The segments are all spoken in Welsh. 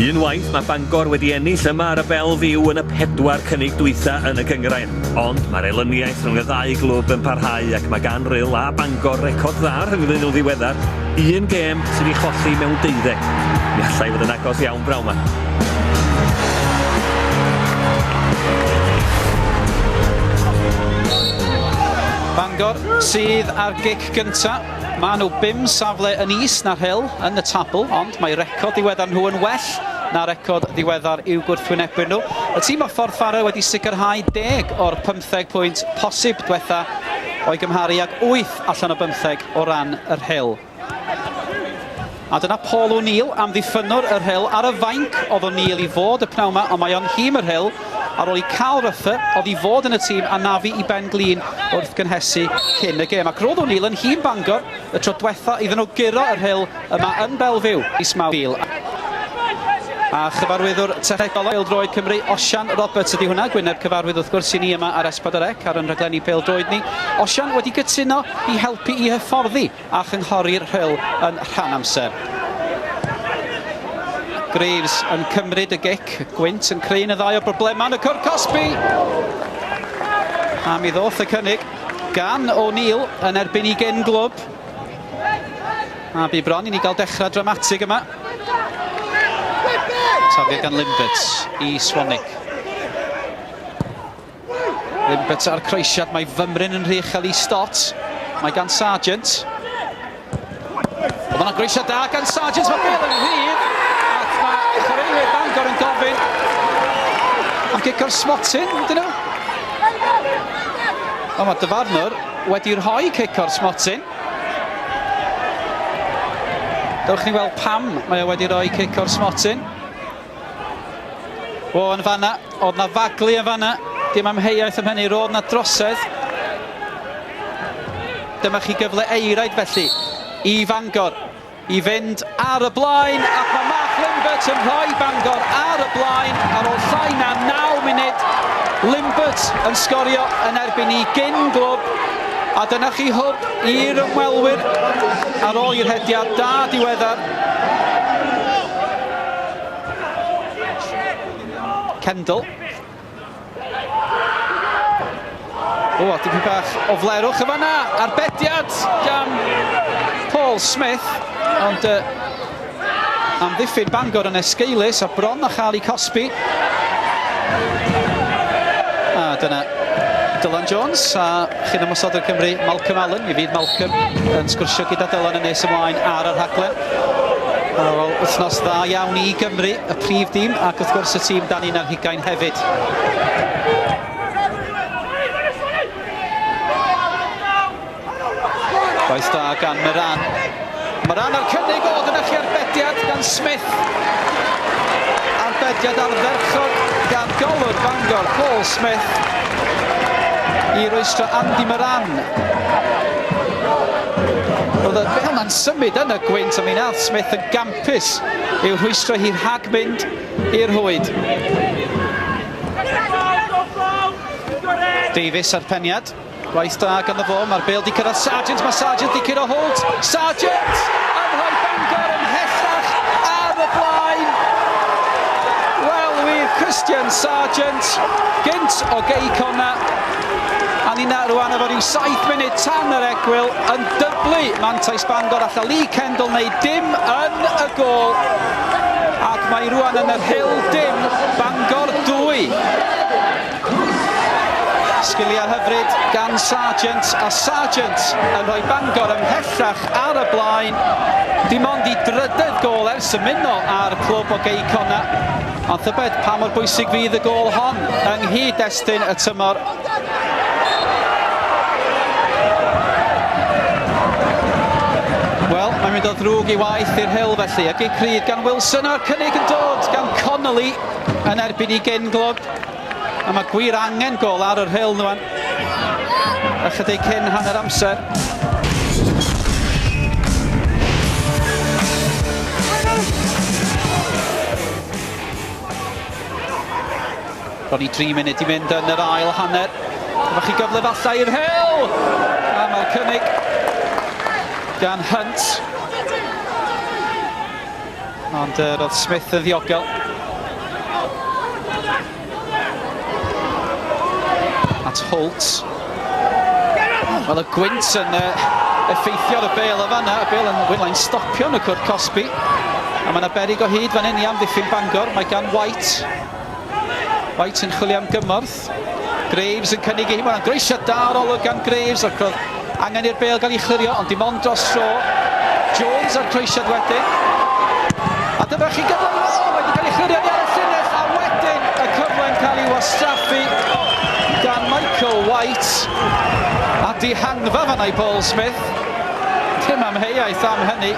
Unwaith mae Bangor wedi ennill yma ar y Bel Fyw yn y pedwar cynnig dwytha yn y gyngrair. Ond mae'r elyniaeth rhwng y ddau glwb yn parhau ac mae gan Rhyl a Bangor record dda rhyngddyn nhw ddiweddar, un gêm sydd wedi cholli mewn deuddeg. Mi allai fod yn agos iawn braw ma. Bangor sydd ar gic gynta. Maen nhw bum safle yn is na'r Hill yn y tabl, ond mae record ddiweddar nhw yn well na record ddiweddar i'w gwrthwynebwyr nhw. Y tîm o'r Ffordd Ffarrel wedi sicrhau deg o'r pymtheg pwynt posib dwetha o'i gymharu ag wyth allan o bymtheg o ran yr Hill. A dyna Paul O'Neill, amddiffynnwr y rhyl, ar y fainc. Oedd O'Neill i fod y pnawn ma, ond mae o'n nhîm y rhyl ar ôl i Carl Ruffer, oedd i fod yn y tîm, anafu i ben glin wrth gynhesu cyn y gêm. Ac roedd O'Neill yn nhîm Bangor y tro dwetha iddyn nhw guro y rhyl yma yn Belfiw mis Mawrth. A chyfarwyddwr technegol pêl-droed Cymru, Osian Roberts ydi hwnna, gwyneb cyfarwydd wrth gwrs i ni yma ar S4C ar yn rhaglenni pêl-droed ni. Osian wedi cytuno i helpu i hyfforddi a chynghori'r Rhyl yn rhan amser. Graves yn cymryd y gic, gwynt yn creu un o ddau o broblemau yn y cwr cosbi. A mi ddoth y cynnig gan O'Neill yn erbyn i gen glwb. A bu bron i ni gael dechrau dramatig yma. Tafio gan Limbert i Swanick. Yn beta'r croesiad, mae fymryn yn rhy uchel i Stott. Mae gan Sargent. Ond mae'n groesiad da gan Sargent, mae bel yn rhydd. Ac mae chwaraewyr Bangor yn gofyn am gic o'r smotyn, dyn nhw. Ond mae dyfarnwr wedi rhoi cic o'r smotyn. Dewch ni weld pam mae o wedi rhoi cic o'r smotyn. O, yn fanna, oedd na faglu yn fanna. Dim amheuaeth am hynny, roedd na drosedd. Dyma chi gyfle eiraid felly i Fangor i fynd ar y blaen ac mae Mark Limbert yn rhoi Bangor ar y blaen ar ôl llai na 9 munud. Limbert yn sgorio yn erbyn i gyn glwb a dyna chi hwb i'r ymwelwyr ar ôl i'r hediad da diweddar Kendall. O, a dipyn bach o flerwch yn fanna, arbediad gan Paul Smith, ond uh, amddiffyn Bangor yn esgeulus a bron a chael ei cosbi. A dyna Dylan Jones a chyn ymwysod o'r Cymru, Malcolm Allen. Mi fydd Malcolm yn sgwrsio gyda Dylan yn nes ymlaen ar y rhaglen. Ar ôl wythnos dda iawn i Gymru, y prif dîm ac wrth gwrs y tîm dan un ar hugain hefyd. Gwaith da gan Moran. Moran ar cynnig o dyna chi arbediad gan Smith. Arbediad ardderchog gan golwr Bangor, Paul Smith. I roestro Andy Moran. Roedd y bel na'n symud yn y gwynt a mi wnaeth Smith yn gampus i'w rhwystro hi rhag mynd i'r rhwyd. Davies a'r peniad. Gwaith da ganddo fo, mae'r bel di cyrraedd Sargent, mae Sargent di curo Holt. Sargent yn rhoi Bangor yn hellach ar y blaen. Wel, wir Christian Sargent, gynt o gei cona, A ninna rwan efo rhyw 7 munud tan yr egwyl yn dyblu mantais Bangor alla Lee Kendall wneud dim yn y gol ac mae rwan yn yr hil dim Bangor 2. Sgiliau hyfryd gan Sargent a Sargent yn rhoi Bangor ymhellach ar y blaen. Dim ond i drydedd gol ers ymuno â'r clwb o Gei Cona. Ond tybed pa mor bwysig fydd y gôl hon yng nghyd-destun y tymor? Wel, mae'n mynd o ddrwg i waith i'r hyl felly. Y gig rhydd gan Wilson a'r cynnig yn dod gan Connolly yn erbyn i Genglod. A mae gwir angen gol ar yr Hil nhw ychydig cyn hanner amser. Ro'n i 3 munud i fynd yn yr ail hanner. Efo chi gyfle falle i'r Hil! A mae'r cynnig gan Hunt. Ond uh, roedd Smith yn ddiogel. At Holt. Wel, y gwynt yn uh, effeithio ar y bel o fanna. Y bel yn wylau'n stopio yn y cwrt cosbi. A mae yna berig o hyd fan hyn i amddiffyn Bangor. Mae gan White. White yn chwilio am gymorth. Graves yn cynnig i hi, mae'n groesiad da o'r olwg gan Graves ac roedd angen i'r bêl gael ei chlirio ond dim ond dros dro. Jones a'r croesiad wedyn. A dyma chi gyfle i weld wedi cael ei chlirio ni ar y llinell a wedyn y cyfle'n cael ei wastraffu gan Michael White a dihangfa fanna i Paul Smith. Tim amheuaeth am hynny.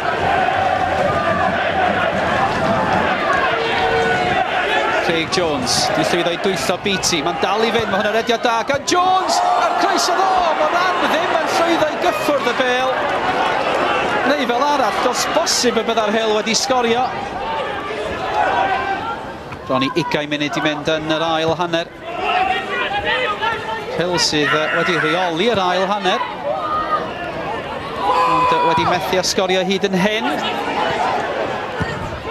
Craig Jones, di llwyddo i dwyllo Beatty, mae'n dal i fynd, mae hwnna rediad da gan Jones, a'r croeso ddo, mae ran ddim yn llwyddo i gyffwrdd y bel. Neu fel arall, dos bosib y byddai'r Hel wedi sgorio. Bron i ugain munud i mynd yn yr ail hanner. Hill sydd wedi rheoli yr ail hanner. Ond wedi methu a sgorio hyd yn hyn.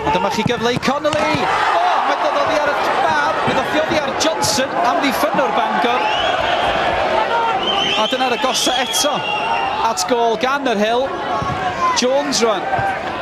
Ond dyma chi gyfle i Connolly. O, oh, mae doddi ar y bar. Bydd o ffioddi ar Johnson am ddiffynnwr Bangor. A dyna'r agosa eto at gol gan yr Hill. Jones rwan.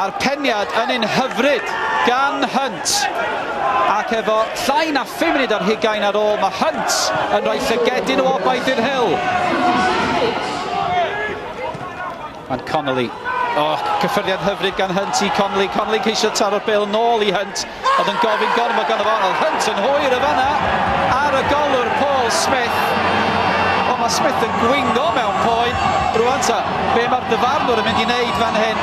a'r peniad yn un hyfryd gan Hunt ac efo llai na 5 munud ar hugain ar ôl mae Hunt yn rhoi llygedyn o obaith i'r Hill. Mae'n Connolly. Oh, cyffyrddiad hyfryd gan Hunt i Connolly. Connolly'n ceisio taro'r bel nôl i Hunt. Oedd yn gofyn gormod gan y fo, oedd Hunt yn hwyr y fanna ar y golwr Paul Smith. Ond mae Smith yn gwingo mewn poen. Rwan ta, be mae'r dyfarnwr yn mynd i wneud fan hyn?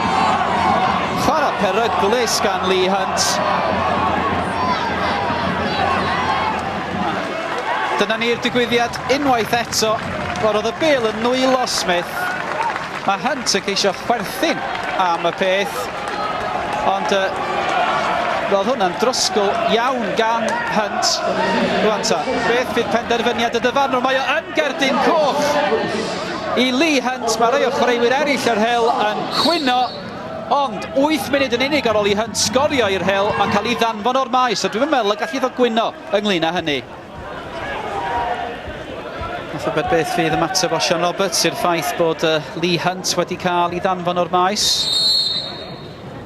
Chwarae peryglus gan Lee Hunt. Dyna ni'r digwyddiad unwaith eto. Wel, oedd y bil yn nwylo Smith. Mae Hunt yn ceisio chwerthin am y peth. Ond uh, roedd hwnna'n drosgl iawn gan Hunt. Rwan ta, beth fydd penderfyniad y dyfarnwr? Mae o yn gerdyn coch i Lee Hunt. Mae rhai o chwaraewyr eraill yr hel yn cwyno. Ond 8 munud yn unig ar ôl i Hunt sgorio i'r hel, mae'n cael ei ddanfon o'r maes. A dwi'n meddwl y gallu fod gwyno ynglyn â hynny. Wrth yfed beth fydd ymateb o Sian Roberts i'r ffaith bod Lee Hunt wedi cael ei ddanfon o'r maes.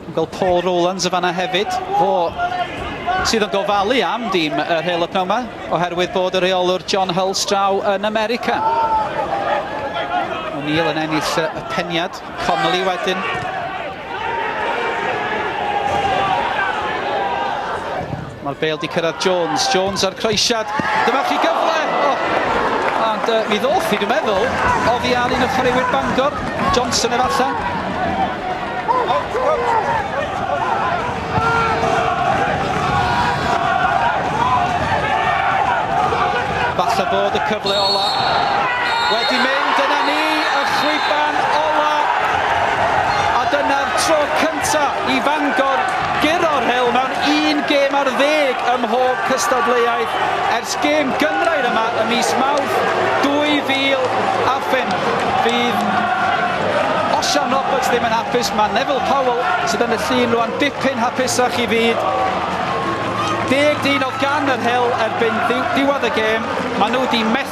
Yn gweld Paul Rowlands y fanna hefyd. Fo sydd yn gofalu am dîm yr hel y pnawn yma, oherwydd bod y rheolwr John Hull straw yn America. O'Neill yn ennill y peniad, Connolly wedyn. Mae'r bêl 'di cyrraedd Jones, Jones ar croesiad, dyma chi gyfle! Oh! Ond uh, mi ddoth i, dwi'n meddwl, oddi ar un o chwaraewyr Bangor, Johnson efallai. Falle bod y cyfle ola wedi mynd, yna ni, y chwiban ola, a dyna'r tro cyntaf i Fangor guro'r rhewl mewn un gêm ar ddeg ym mhob cystadleuaeth ers gêm gynghrair yma ym mis Mawrth 2005. Fydd Osian Roberts ddim yn hapus, mae Neville Powell sydd yn y llun rwan dipyn hapusach i fyd. Deg dyn o gan yr hewl erbyn ddiwedd y gêm, maen nhw wedi methu